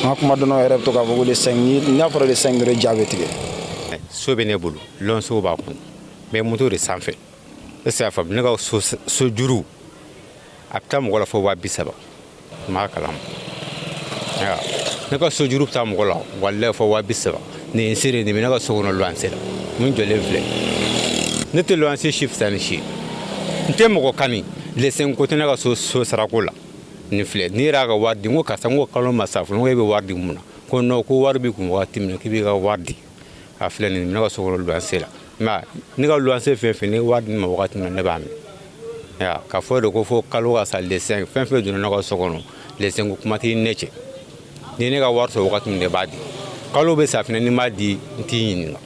an ka kuma dɔnnaw yɛrɛ bɛ to k'a fɔ ko le cinq n'a fɔra le cinq yɛrɛ i ja bɛ tigɛ so bɛ ne bolo luwansew b'a kɔnɔ mɛ moto de sanfɛ e se y'a faamu ne ka so juru a bɛ taa mɔgɔ la fɔ waa bi saba n b'a kalama ne ka so juru bɛ taa mɔgɔ la walayi fɔ waa bi saba nin seere nin bɛ ne ka so kɔnɔ luwanse la min jɔlen filɛ ne tɛ luwanse si fisa ni si ye n tɛ mɔgɔ kani le cinq ko tɛ ne ka so sarako la nin filɛ nin yɛrɛ y'a ka wari di n ko karisa n ko kalo ma sa fɔlɔ n ko e bɛ wari di mun na ko nɔ ko wari b'i kun wagati min na k'i b'i ka wari di a filɛ nin bɛ ne ka so kɔnɔ luwanse la mɛ ne ka luwanse fɛn fɛn ye wari di n ma wagati min na ne b'a minɛ ka fɔ de ko fo kalo ka sa le cinq fɛn fɛn donna ne ka so kɔnɔ le cinq ko kuma tɛ ne cɛ ni ne ka wari sɔrɔ wagati min ne b'a di kalo bɛ sa fana n'i m'a di n t'i ɲininka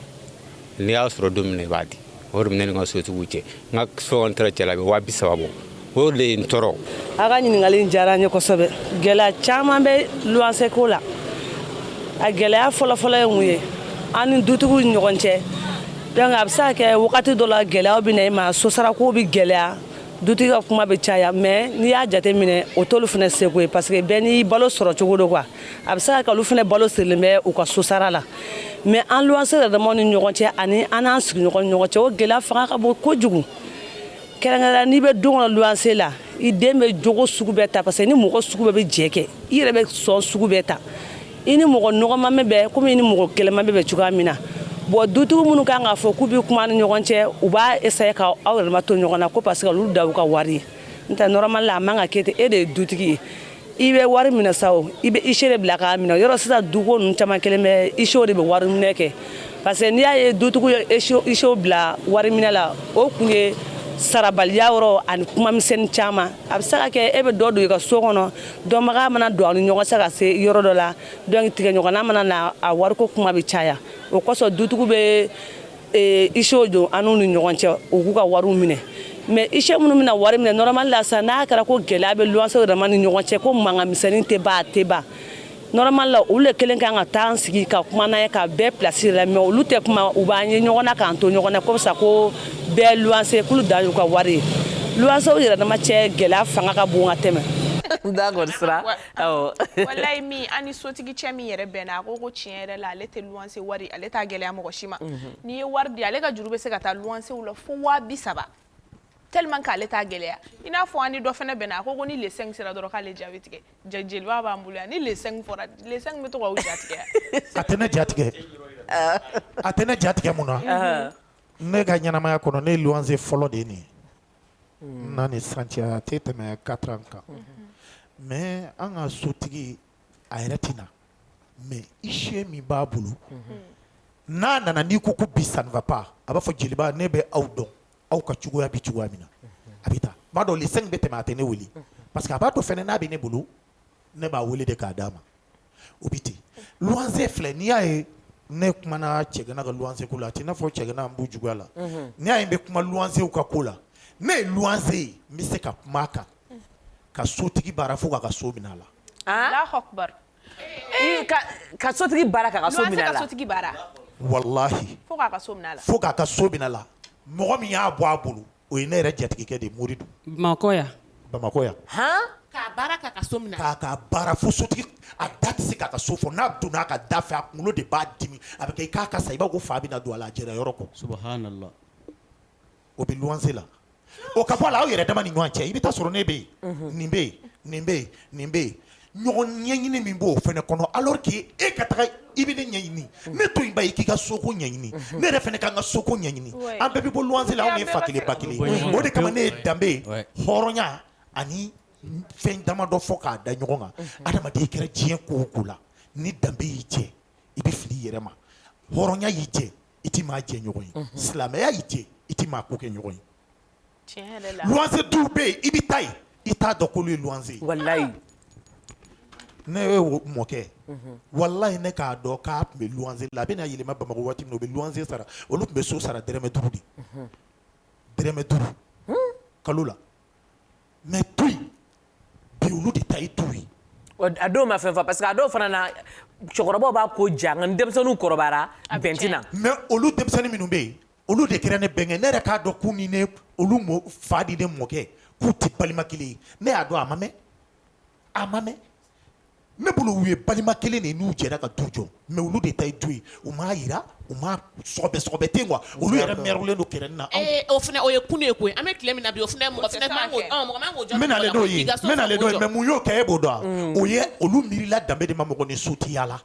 n'i y'a sɔrɔ don min i b'a di o de bɛ ne ni n ka sotigiw cɛ n ka fɛn taara cɛla bɛ waa bi saba bɔ o de ye n tɔɔrɔ a ka ɲininkali diyara n ye kosɛbɛ gɛlɛya caman bɛ luwanse ko la a gɛlɛya fɔlɔfɔlɔ ye mun ye an ni dutigiw ni ɲɔgɔn cɛ donc a bɛ se ka kɛ wagati dɔ la gɛlɛyaw bɛ na i ma sosarako bɛ gɛlɛya dutigi ka kuma bɛ caya mais n'i y'a jate minɛ o t'olu fana seko ye parce que bɛɛ n'i balo sɔrɔ cogo don quoi a bɛ se ka kɛ olu fana balo sirilen bɛ u ka sosara la mais an luwanse yɛrɛdamaw ni ɲɔgɔn cɛ ani an n'an sigiɲɔgɔn ni ɲɔgɔn cɛ o gɛlɛya fanga ka bon kojugu kɛrɛnkɛrɛnya n'i bɛ du kɔnɔ luwanse la i den bɛ jogo sugu bɛɛ ta parce que ni mɔgɔ sugu bɛɛ bɛ jɛ kɛ i yɛrɛ bɛ sɔn sugu bɛɛ ta i ni mɔgɔ nɔgɔman bɛ bɛn komi i ni mɔgɔ kɛlɛma bɛ bɛn cogoya min na bon dutigiw minnu kan k'a fɔ k'u bɛ kuma ni ɲɔgɔn cɛ u b'a essayer ka aw yɛrɛma to ɲɔgɔn na ko parce que olu dan y'u ka wari ye n'o tɛ normalement a man ka kɛ ten e de ye dutigi ye i bɛ wari minɛ sa o i bɛ ise de bila k'a minɛ yɔrɔ sisan duko ninnu caman kelen bɛ isew de bɛ wari minɛ kɛ parce que n'i y'a ye dutigiw ye isew bila wari minɛ la o kun ye sarabaliya yɔrɔ ani kuma misɛnnin caman a bɛ se ka kɛ e bɛ dɔ don i ka so kɔnɔ dɔnbaga mana don aw ni ɲɔgɔn cɛ ka se yɔrɔ dɔ la donc tigɛɲɔgɔnna mana na a wariko kuma bɛ caya o kosɔn dutigiw bɛ eh, isew don an n'u ni ɲɔgɔn cɛ u k'u ka wariw minɛ mais ise minnu bɛna wari minɛ normalement la sa n'a kɛra ko gɛlɛya bɛ luwanse yɛrɛma ni ɲɔgɔn cɛ ko mankan misɛnnin tɛ ban a tɛ ban normalement la olu de kelen kan ka taa an sigi ka kuma n'an ye ka bɛɛ pilasi la mais olu tɛ kuma u b'an ye ɲɔgɔn na k'an to ɲɔgɔn na ko sa ko bɛɛ luwanse k'olu dan y'u ka wari ye luwansew yɛrɛdama cɛ gɛlɛya fanga ka bon ka tɛmɛ d'accord sira awɔ wallahi min an ni sotigi cɛ min yɛrɛ bɛnna a ko ko tiɲɛ yɛrɛ la ale tɛ luwanse wari ale t'a gɛlɛya mɔgɔ si ma mhm. n'i ye wari di ale ka juru bɛ se ka taa luwansew la fo waa bi saba tellement k'ale t'a gɛlɛya i n'a fɔ an ni dɔ fana bɛnna a ko ko ni le 5 sera dɔrɔn k'ale ja bɛ tigɛ jeliba b'an bolo yan ni le 5 fɔra le 5 bɛ to k'aw jatigɛ a tɛ ne jatigɛ a tɛ ne jatigɛ mun na Ne ka ɲɛnamaya kɔnɔ ne luwanse fɔlɔ de nin n'a ni sisan cɛ a tɛ tɛmɛ 4 ans kan mais an ka sotigi a yɛrɛ tɛ na mais ise min b'a bolo n'a nana n'i ko ko bi ça ne va pas a b'a fɔ jeliba ne bɛ aw dɔn aw ka cogoya bɛ cogoya min na a bɛ taa b'a dɔn le 5 bɛ tɛmɛ a tɛ ne weele parce que a b'a dɔn fana n'a bɛ ne bolo ne b'a weele de k'a d'a ma o bɛ ten luwanse filɛ n'i y'a ye ne kumana cɛgana ka luwanse ko la a tɛ i n'a fɔ cɛgana n b'u juguya la n'i y'a ye n bɛ kuma luwansew ka ko la ne ye luwanse ye n bɛ se ka kuma a kan ka sotigi baara fo k'a ka so minɛ a la ka sotigi baara sotigi walahi fo k'a ka so minɛ a la mɔgɔ min y'a bɔ a bolo o ye ne yɛrɛ jatigikɛ de mori don bamakɔ yan bamakɔ yan k'a baara fo sotigi a da tɛ se k'a ka so fɔ n'a donna a ka da fɛ a kunkolo de b'a dimi a bɛ kɛ i k'a ka sa i b'a ko fa bɛna don a la a jɛra yɔrɔ kɔ subhanallah o bɛ luwanse la o ka bɔ a la aw yɛrɛ dama ni ɲɔgɔn cɛ i bɛ taa sɔrɔ ne bɛ yen nin bɛ yen nin bɛ nin bɛ yen ɲɔgɔn ɲɛɲini min b'o fɛnɛ kɔnɔ alors que e ka taga i bɛ ne ɲɛɲini ne to yen ba i k'i ka soko ɲɛɲini ne yɛrɛ fɛnɛ ka n ka soko ɲɛɲini an bɛɛ bɛ bɔ luwanse la anw ye fa kelen ba kelen o de kama ne ye danbe hɔrɔnya ani fɛn damadɔ fɔ k'a da ɲɔgɔn kan adamaden i kɛra diɲɛ ko o ko la ni danbe y'i jɛ i bɛ fili i yɛrɛ ma hɔrɔnya y'i jɛ i tɛ maa jɛ ɲɔgɔn ye silamɛya y'i jɛ i tɛ maa ko kɛ ɲɔgɔn ye luwanse du bɛ yen i bɛ taa i t'a dɔn k'olu ye luwanse ye ne yɛrɛ mɔkɛ walayi ne k'a dɔn k'a tun bɛ luwanse la a bɛna yɛlɛma bamakɔ waati min na u bɛ luwanse sara olu tun bɛ so sara dɛrɛmɛ duuru de dɛrɛmɛ duuru kalo la mais to yen bi olu de ta ye du ye a dɔw ma fɛn fɔ parce que a dɔw fana na cɛkɔrɔbaw b'a ko jan nka ni denmisɛnninw kɔrɔbayara bɛn tɛ na mais olu denmisɛnnin minnu bɛ yen olu de kɛra ne bɛnkɛ ne yɛrɛ k'a dɔn k'u ni ne olu fa ni ne mɔkɛ k'u tɛ balima kelen ye ne y'a dɔn a ma mɛn a ma mɛn ne bolo u ye balima kelen de n'u jɛra ka du jɔ mais olu de ta ye du ye u m'a yira u m'a sɔgɔbɛ ten quoi olu yɛrɛ mɛrulen don kɛrɛnin na ee o fana o ye kun ye koyi an bɛ tile min na bi o fana ye mɔgɔ fana taa kɛ. Ɔ, mɔgɔ man k'o jɔ n bɛna ale mɔgɔ la, dɔw ye k'i ka so n bɛna ale sɔgɔ dɔw ye jɔ. mais mun y'o kɛ e b'o dɔn wa? o ye olu miirila danbe de ma mɔgɔ ni so tɛ yaala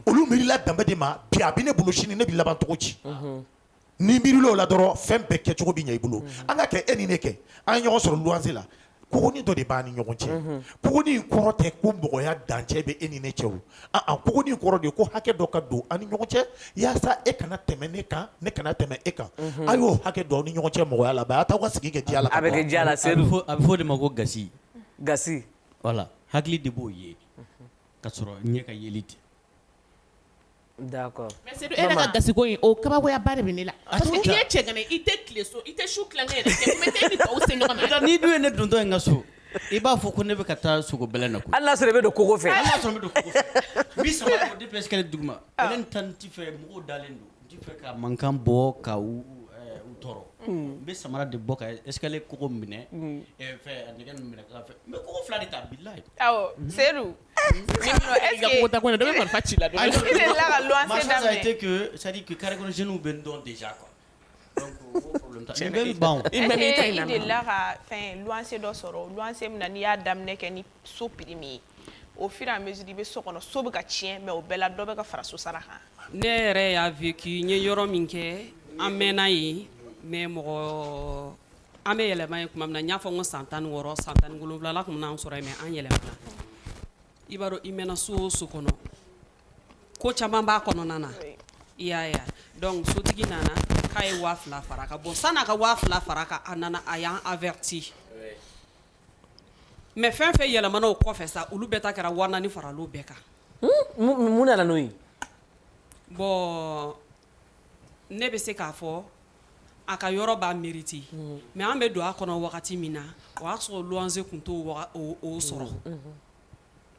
Olu miirila danbe de ma bi a bɛ ne bolo sini ne bɛ laban cogo di n'i miirila o la dɔrɔn fɛn bɛɛ kɛcogo bɛ ɲɛ i bolo an ka kɛ e ni ne kɛ an ye ɲɔgɔn sɔrɔ luwanse la kogonin dɔ de b'an ni ɲɔgɔn cɛ kogonin kɔrɔ tɛ ko mɔgɔya dancɛ bɛ e ni ne cɛ a kogonin kɔrɔ de ko hakɛ dɔ ka don an ni ɲɔgɔn cɛ yaasa e kana tɛmɛ ne kan ne kana tɛmɛ e kan a y'o hakɛ don ni ɲɔgɔn cɛ mɔgɔya la a b'a to aw ka sigi kɛ la a bɛ diya a bɛ fɔ o de ma ko gasi voilà hakili de b'o ye ka sɔrɔ ɲɛ ka yeli tɛ d'accord mais Seydou e yɛrɛ ka gasi ko in o kabakoya ba de bɛ ne la parce que n'i ye cɛganan ye i tɛ tile so i tɛ su tilankɛ yɛrɛ kɛ mais t'e ni tɔw se ɲɔgɔn ma n'i dun ye ne dontɔ ye n ka so i b'a fɔ ko ne bɛ ka taa sogo bɛlɛn na koyi hali n'a sɔrɔ i bɛ don kogo fɛ hali n'a sɔrɔ n bɛ don kogo fɛ n bɛ samara bɔ depuis escalier duguma ale ni tan n ti fɛ mɔgɔw dalen don N fɛ ka mankan bɔ ka u tɔɔrɔ n bɛ samara de bɔ ka esle kogo minɛ fɛ nɛgɛ minɛ fɛ n ko fila de ta bila seyidu marifa ci la sadi kari jw bɛ n dɔn de kuwa la ka fɛn dɔ sɔrɔ n' y'a daminɛ kɛ so prix min ye au fur et à mesure i bɛ so kɔnɔ so bɛ ka tiɲɛ mais o bɛɛ la dɔ bɛ ka fara so sara kan ne yɛrɛ y'a vécu n ye yɔrɔ min kɛ an mɛnna yen mais mɔgɔ an bɛ yɛlɛma yen tuma min na n y'a fɔ n ko san tan ni wɔɔrɔ san tan ni wolonwula la tun bɛn'an sɔrɔ yen mais an yɛlɛmana i b'a dɔn i mɛnna so o so kɔnɔ ko caman b'a kɔnɔna na i y'a ye wa donc sotigi nana k'a ye waa fila fara a kan bon san'a ka waa fila fara a kan a nana a y'an averti mais fɛn fɛn yɛlɛmana o kɔfɛ sa olu bɛɛ ta kɛra waa naani faral'o bɛɛ kan mun nana n'o ye bon ne bɛ se k'a fɔ a ka yɔrɔ b'a mérite mais an bɛ don a kɔnɔ wagati min na o y'a sɔrɔ luwanse tun t'o sɔrɔ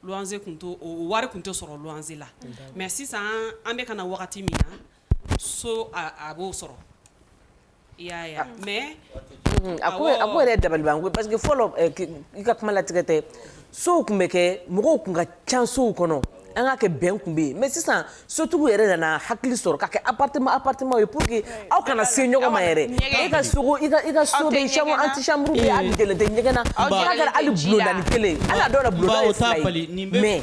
luwanse tun t'o wari tun tɛ sɔrɔ luwanse la mais sisan an bɛ ka na wagati min na so a b'o sɔrɔ i y'a ye mɛ a ko yɛrɛ dabali ko parce que fɔlɔ i ka kuma latigɛ tɛ sow tun bɛ kɛ mɔgɔw tun ka ca sow kɔnɔ an ka kɛ bɛn tun bɛ yen mɛ sisan sotigiw yɛrɛ nana hakili sɔrɔ ka kɛ a patɛma a patɛma ye pur que aw kana se ɲɔgɔn ma yɛrɛ e ka sogo i ka so tɛ ɲɛgɛn na kelen ala dɔ mɛ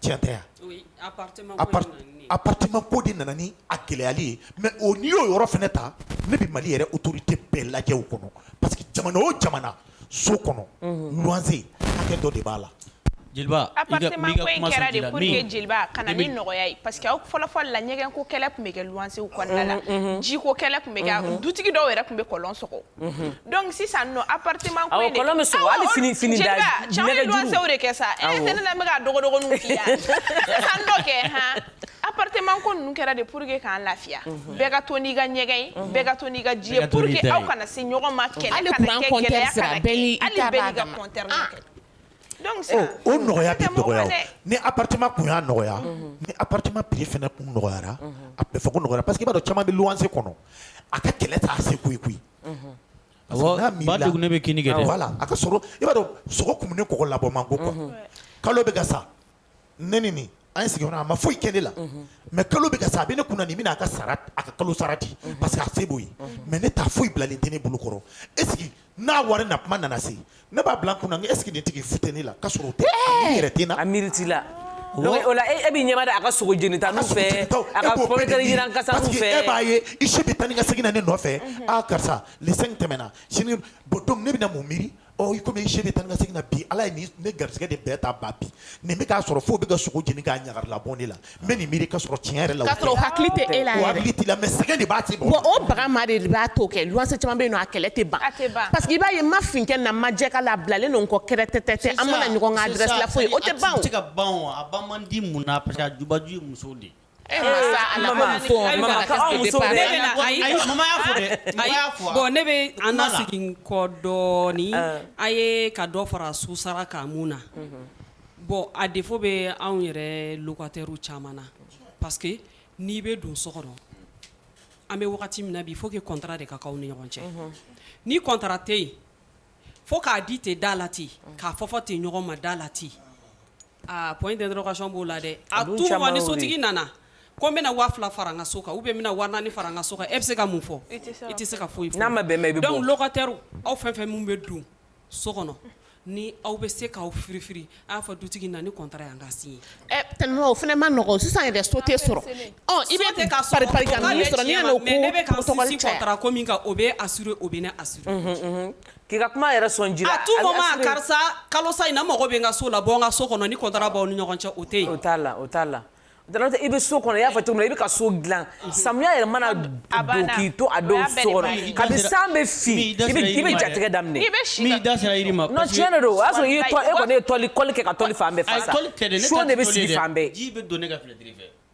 cɛtɛ aptima ko de nana ni a gɛlɛyayali ye mɛ o n'i y'o yɔrɔ fana ta ne bɛ mali yɛrɛ utouru tɛ bɛɛ lajɛ kɔnɔ parce que jamana o jamana so kɔnɔ ganse hakɛ dɔ de b'a la jeliba fɔlɔfɔlɔ la ɲɛgɛn ko kɛlɛ tun bɛ kɛ gansew kɔnɔna jiko kɛlɛ tun bɛ dutigi dɔw yɛrɛ tun bɛ kɔlɔn sɔgɔ Mhm. donc sisan nɔ appartement ko in de kɔlɔn bɛ sɔgɔ hali fini fini da nɛgɛjuru cɛ bɛ luwansew de kɛ sa e tɛ ne la n bɛ ka dɔgɔdɔgɔninw f'i yan sisan dɔ kɛ han appartement ko ninnu kɛra de pour que k'an lafiya mhm. bɛɛ ka to n'i ka ɲɛgɛn ye mhm. bɛɛ ka to n'i ka ji ye pour que aw kana se ɲɔgɔn ma kɛlɛ kana kɛ gɛlɛya kana kɛ hali bɛɛ n'i ka compteur kɛ o nɔgɔya tɛ nɔgɔya ni tun y'a nɔgɔya ni p fana kun nɔgɔyayara a bɛ fɔ nɔgɔya pa que b'a caman bɛ wanse kɔnɔ a ka kɛlɛ taa se koyi koyi a bɛ la a ka i b'a dɔn sogo tun ne kɔ labɔ ma ko kalo bɛ ka sa ne ni nin an ye sigiyɔrɔ a ma foyi kɛ ne la mais kalo bɛ ka sa a bɛ ne kunna nin bɛna a ka sara a ka kalo sara di parce que a se b'o ye mais ne ta foyi bilalen tɛ ne bolo kɔrɔ est-ce que n'a wari na kuma nana se ne b'a bila n kunna est-ce que nin tigi fute ne la k'a sɔrɔ o tɛ a yɛrɛ tɛ na a miiri t'i la donc o la e b'i ɲɛma da a ka sogo jenita nɔfɛ a ka pɔmitɛri jiran kasa nɔfɛ parce que e b'a ye i si bɛ taa ni ka segin na ne nɔfɛ aaa karisa le cinq tɛmɛna sini bon ne bɛna mun miiri Ɔ i komi i sen bɛ taa ni ka segin na bi Ala ye nin ne garisigɛ de bɛɛ ta ba bi nin bɛ k'a sɔrɔ f'o bɛ ka sogo jeni k'a ɲagari labɔ ne la n bɛ nin miiri k'a sɔrɔ tiɲɛ yɛrɛ la o tɛ k'a sɔrɔ o hakili tɛ e la yɛrɛ o hakili t'i la mais sɛgɛn de b'a tigi wa o baga ma de b'a to kɛ luwanse caman bɛ yen nɔ a kɛlɛ tɛ ban a tɛ ban parce que i b'a ye n ma fin kɛ n na n ma jɛ k'a la a bilalen don n kɔ kɛrɛtɛtɛtɛ an mana ɲɔgɔn ka adresse la fo ye o tɛ ban o a tɛ se ka ban o a ban man di mun na parce que a jubaju ye musow de ye E ma sa ala Mama, ma fɔ, Ayi, mama, ka aw muso bɛ- Ne bɛ na- ayi. Ayi, mama y'a fɔ dɛ. Mama Ayi, y'a fɔ wa? bon, ne bɛ an na segin kɔ dɔɔni a ye ka dɔ fara so sara kan mun na bon a défaut bɛ anw yɛrɛ locataires caman na parce que n'i bɛ don so kɔnɔ an bɛ wagati min na bi il faut que contrat de ka k'aw ni ɲɔgɔn cɛ ni contrat tɛ yen fo k'a di ten da la ten k'a fɔ fɔ ten ɲɔgɔn ma da la ten Aa ko in tɛ dɔrɔnkason b'o la dɛ a ni sotigi nana ko n bɛna waa fila fara ka so kan u bɛ waa ni fara ka so e bɛ se ka mun fɔ e tɛ se ka foyi n'a ma bɛn bɛkatɛ aw fɛn fɛn min bɛ don so kɔnɔ ni aw bɛ se k'aw firi aw fɔ dutigi na ni kɔn yan ka sin o fana ma nɔgɔ sisan yɛrɛ so tɛ sɔrɔ i bɛ ne bɛ o bɛ a o bɛ K'i ka kuma yɛrɛ sɔn ji la, à tout moment karisa kalo sa in na n mago bɛ n ka so la bɔ n ka so kɔnɔ ni contrat b'aw ni ɲɔgɔn cɛ o tɛ yen, o t'a la o t'a la i bɛ so kɔnɔ i y'a fɔ cogo min na i bɛ ka so dilan samiya yɛrɛ mana don k'i to a dɔw so kɔnɔ kabini san bɛ fin i bɛ jatigɛ daminɛ, i bɛ si, n'i da sera yiri ma, non tiɲɛ de don o y'a sɔrɔ i kɔni ye kɔli kɛ ka tɔli fan bɛɛ fasa, ayi tɔli tɛ dɛ, seau de bɛ sigi fan bɛɛ, ji bɛ don ne ka fenêtre fɛ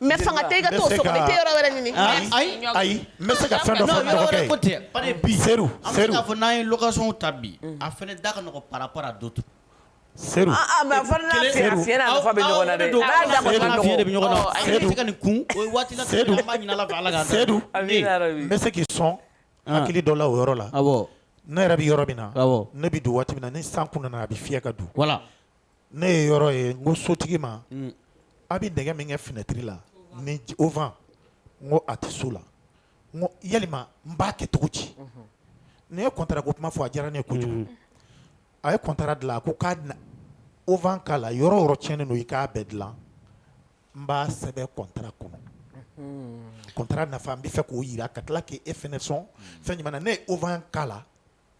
Mais fanga tɛ i ka to so tɛ yɔrɔ wɛrɛ ɲini ayi ayi n bɛ se ka fɛn dɔ fɔ dɔgɔkɛ ko ten bari bi seru an bɛ se k'a fɔ n'an ye location ta bi a fana da ka nɔgɔn par rapport à d'autres seru a a mais a fana n'a fiɲɛ a fiɲɛ n'a nafa bɛ ɲɔgɔn na dɛ awɔ n'a da kɔni ka nɔgɔn fiɲɛ de bɛ ɲɔgɔn na awɔ seru ka nin kun o ye waati la seru an b'a ɲini Ala fɛ Ala k'an se du amina yarabi n bɛ se k'i sɔn hakili dɔ la o yɔrɔ la awɔ ne yɛrɛ bɛ yɔrɔ min na awɔ ne bɛ don waati min na ni san kun nana a bɛ fiyɛ ka don voilà ne ye yɔrɔ ye n ko sotigi ma a bɛ nɛgɛ min kɛ finɛtiri la ni auvent n ko a tɛ so la n ko yalima n b'a kɛ cogo di ne ye contrat ko kuma fɔ a diyara ne ye kojugu a ye contrat dilan a ko k'a auvent k'a la yɔrɔ yɔrɔ tiɲɛnen don i k'a bɛɛ dilan n b'a sɛbɛn contrat kɔnɔ contrat nafa n bɛ fɛ k'o yira ka tila k'e fɛnɛ sɔn fɛn jumɛn na ne ye auvent k'a la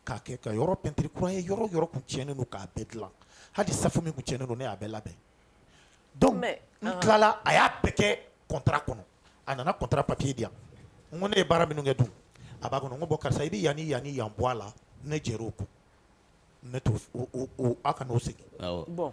k'a kɛ ka yɔrɔ peinture kura ye yɔrɔ yɔrɔ kun tiɲɛnen don k'a bɛɛ dilan hali safo min kun tiɲɛnen don ne y'a bɛɛ labɛn donc Mais, n ɔhɔn. tilala a y'a bɛɛ kɛ contrat kɔnɔ a nana contrat papier di yan n ko ne ye baara minnu kɛ dun a b'a kɔnɔ n ko bon karisa i bɛ yan ni yan ni yan bɔ a la ne jɛr'o kɔ ne t'o fɛ aw kan'o segin awɔ bon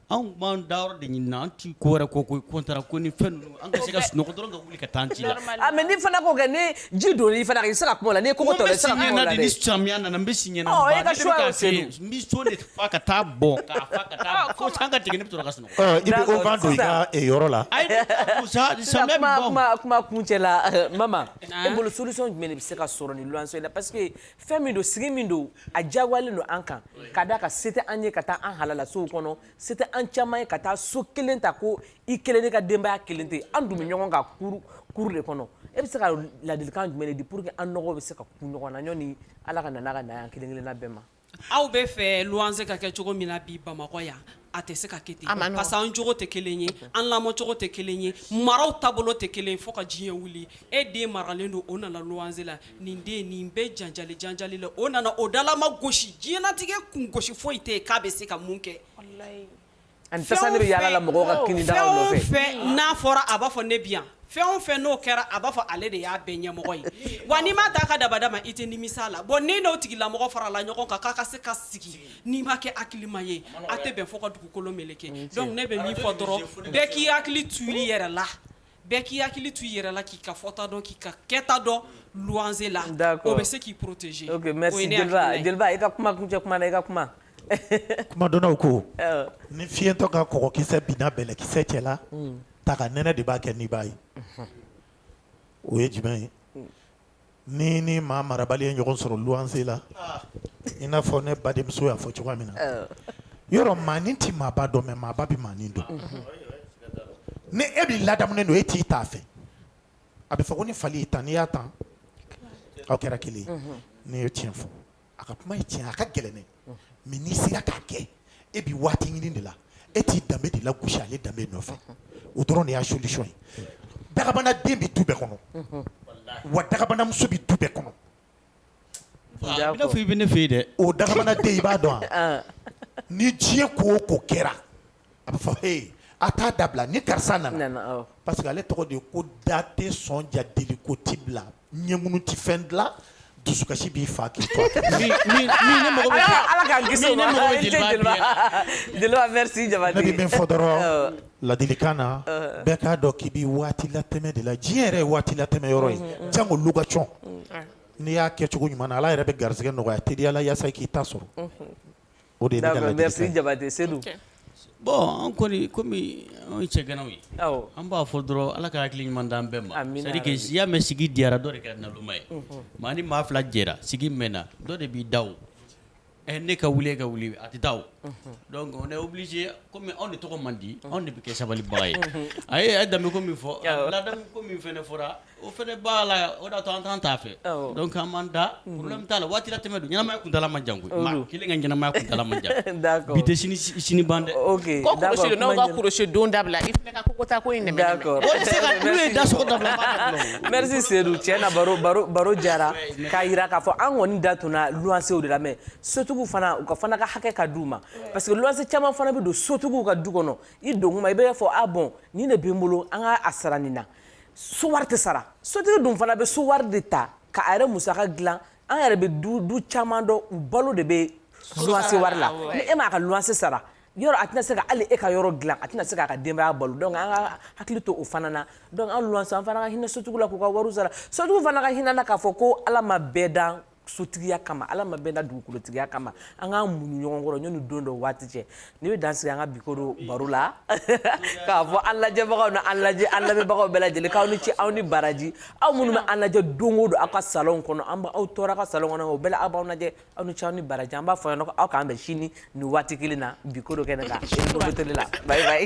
Anw b'an da yɔrɔ de ɲini na an ti ko wɛrɛ kɔ koyi contrat ko ni fɛn ninnu an ka se ka sunɔgɔ dɔrɔn ka wuli ka taa an ci la normalement a mais n'i fana ko kɛ ni ji donna i fana kan i tɛ se ka kuma o la n'i ye kɔngɔ tɔ la i tɛ se ka kuma o la dɛ n bɛ si ɲɛ na de ni samiya nana n bɛ si ɲɛ na Ɔ, e ka choix y'o se dun. n bɛ seau de fa ka taa bɔn k'a fa ka taa fo san ka tigɛ ne bɛ sɔrɔ ka sunɔgɔ Ɔ, i bɛ D'accord, o fan don i ka sisan. eh, yɔrɔ la ayi sa sisan samiya bɛ kuma bɔ kuma kuma kuncɛ la mama e bolo solution jumɛn de bɛ se ka sɔrɔ nin luwanse in na parce que fɛn min don sigi min don a diyagoyalen don an kan ka d'a kan se tɛ an ye ka taa an halala sow kɔnɔ se tɛ an caman ye ka taa so kelen ta ko i kelen ne ka denbaya kelen tɛ an dun bɛ ɲɔgɔn kan cour de kɔnɔ e bɛ se ka ladilikan jumɛn de di pour que an nɔgɔ bɛ se ka kun ɲɔgɔn na ɲɔni Ala ka na n'a ka na ye an kelen kelenna bɛɛ ma aw bɛ fɛ luwanse ka kɛ cogo min na bi Bamakɔ yan A tɛ se ka kɛ ten, a ma nɔgɔn, parce que an jogo tɛ kelen ye, an lamɔcogo tɛ kelen ye, maraw taabolo tɛ kelen ye fo ka diɲɛ wuli e den maralen don o nana luwanse la nin den nin bɛɛ janjali janjali la o nana o dalama gosi diɲɛlatigɛ kun gosi foyi tɛ yen k'a bɛ se ka mun kɛ, walahi, a ni tasa de bɛ yaala la mɔgɔw ka kinidagaw nɔfɛ, fɛn o fɛn n'a fɔra a b'a fɔ ne bɛ yan, fɛn o fɛn n'o kɛra a b'a fɔ ale de y'a bɛɛ ɲɛmɔgɔ ye wa n'i m'a t'a ka dabada ma i tɛ nimisa a la bon ni n'o tigilamɔgɔ farala ɲɔgɔn kan k'a ka se ka sigi n'i ma kɛ hakilima ye a tɛ bɛn fo ka dugukolo meleke ne bɛ min fɔ dɔrɔn bɛɛ k'i hakili to i yɛrɛ la bɛɛ k'i hakili to i yɛrɛ la k'i ka fɔta dɔn k'i ka kɛta dɔn luwanse la o bɛ se k'i protéger jeliba i ka kuma kuncɛ kuma i ka kuma kumadɔnnaw ko ni fiɲɛtɔ ka kɔgɔkisɛ binna bɛlɛkisɛ cɛ la ta ka nɛnɛ de b'a kɛ n'i b'a ye o ye jumɛn ye Ni ni maa marabali ye ɲɔgɔn sɔrɔ luwanse la i n'a fɔ ne badenmuso y'a fɔ cogoya min na yɔrɔ maanin tɛ maaba dɔn mais maaba bɛ maanin dɔn ni e b'i ladamunen don e t'i t'a fɛ a bɛ fɔ ko ni fali y'i tan n'i y'a tan aw kɛra kelen ye n'i ye tiɲɛ fɔ a ka kuma ye tiɲɛ a ka gɛlɛn dɛ mais n'i sera k'a kɛ e bɛ waati ɲini de la e t'i danbe de lagosi ale danbe nɔfɛ o dɔrɔn de y'a solution ye dagabana den bɛ du bɛɛ kɔnɔ wa dagabanamuso bɛ du bɛɛ kɔnɔ i bɛ ne fɛ yen dɛ o dagabana den i b'a dɔn wa ni diɲɛ ko o ko kɛra A bɛ fɔ he a t'a dabila ni karisa nana, nana awɔ, parce que ale tɔgɔ de ye ko da tɛ sɔn ja deliko ti bila ɲɛŋunu tɛ fɛn dilan dusukasi b'i faa k'i to a kɔ, min min ne mago bɛ se Ala k'an kisi o ma, min ne mago bɛ jeliba biɲɛ na, Jeliba Jeliba merci Jabate, ne bɛ min fɔ dɔrɔn awɔ, ladilikan na, ɔhɔ, bɛɛ k'a dɔn k'i bɛ waati latɛmɛ de la, diɲɛ yɛrɛ ye waati latɛmɛ yɔrɔ ye, unhun, unhun, jango location n'i y'a kɛ cogo ɲuman na Ala yɛrɛ bɛ garisɛgɛ nɔgɔya teliya la yaasa i k'i ta sɔrɔ, unhun Merci jabate seyidu bon an kɔni kɔmi an ye cɛganaw ye an b'a fɔ dɔrɔn ala ka hakili ɲuman d'an bɛɛ ma c'est à dire que i y'a mɛn sigi diyara dɔ de kɛra naloma ye maa ni maa fila jɛra sigi mɛnna dɔ de b'i da o ne ka wuli e ka wuli a tɛ taa o donc on est obligé kɔmi anw de tɔgɔ man di anw de bɛ kɛ sabalibaga ye a ye danbe ko min fɔ ladamu ko min fana fɔra O fana b'a la o d'a to an t'an t'a fɛ donc an m'an da problème t'a la waati latɛmɛ don ɲɛnamaya kuntaala man jan maa kelen ka ɲɛnamaya kuntaala man jan bi tɛ sini ban dɛ kulusi don dabila i kota ko da merci sedu tiɲɛ na baro jara k'a yira k'a fɔ an kɔni da tora luwansew de la mais sotigiw fana u ka fana ka hakɛ ka d'u ma parce que luwanse caman fana bɛ don sotigiw ka du kɔnɔ i don kuma i b'a fɔ a bon nin de bɛ n bolo an ka a sara nin na so wari tɛ sara sotigi dun fana bɛ so wari de ta ka a yɛrɛ musaka dilan an yɛrɛ bɛ du du caman dɔn u balo de bɛ luwanse wari la ni e m'a ka luwanse sara yɔrɔ a tɛna se ka hali e ka yɔrɔ dilan a tɛna se k'a ka denbaya balo donc an ka hakili to o fana na donc an luwanse an fana ka hinɛ sotigiw la k'u ka wariw sara sotigiw fana ka hinɛ an na k'a fɔ ko ala ma bɛɛ dan sotigiya kama ala ma bɛɛ dan dugukolotigiya kama an k'an muɲu ɲɔgɔn kɔrɔ yanni don dɔ waati cɛ ne bɛ dan sigi an ka bikoro baro la k'a fɔ an lajɛbagaw na an lajɛ an lamɛnbagaw bɛɛ lajɛlen k'aw ni ce aw ni baraji aw minnu bɛ an lajɛ don o don aw ka salon kɔnɔ an aw tɔɔrɔ ka salon kɔnɔ o bɛɛ la aw b'an lajɛ aw ni ce aw ni baraji an b'a fɔ aw k'an bɛn sini nin waati kelen na bikoro kɛnɛ la la bayi bayi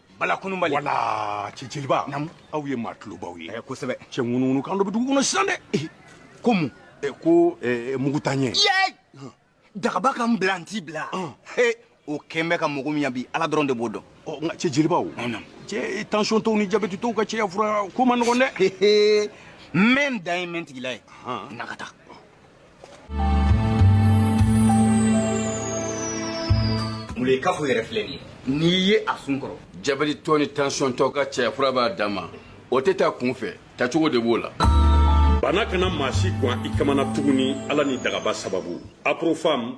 bala kununbali wala cɛ jeliba namu aw ye maa tulobaw ye eh, kosɛbɛ cɛ ŋunuŋunu kan dɔ bɛ dugu kɔnɔ sisan dɛ eh, ko mun eh, ko mugutanyɛ dagaba ka n bila n t'i bila o kɛn bɛ ka mɔgɔ min yan bi ala dɔrɔn de b'o dɔn oh, nka cɛ jelibaw cɛ tensiontɔw ni jabɛtitɔw ka cɛya fura ko man nɔgɔn dɛ n bɛ n dan ye n bɛ n tigila ye na ka taa Ye kafo yɛrɛ filɛ ye n'i ye a sun kɔrɔ jabɛtitɔ ni tansiyɔntɔ ka cɛya fura b'a danma o tɛ ta kunfɛ tacogo de b'o la bana kana maa si gan i kamana tuguni ala ni dagaba sababu aprofam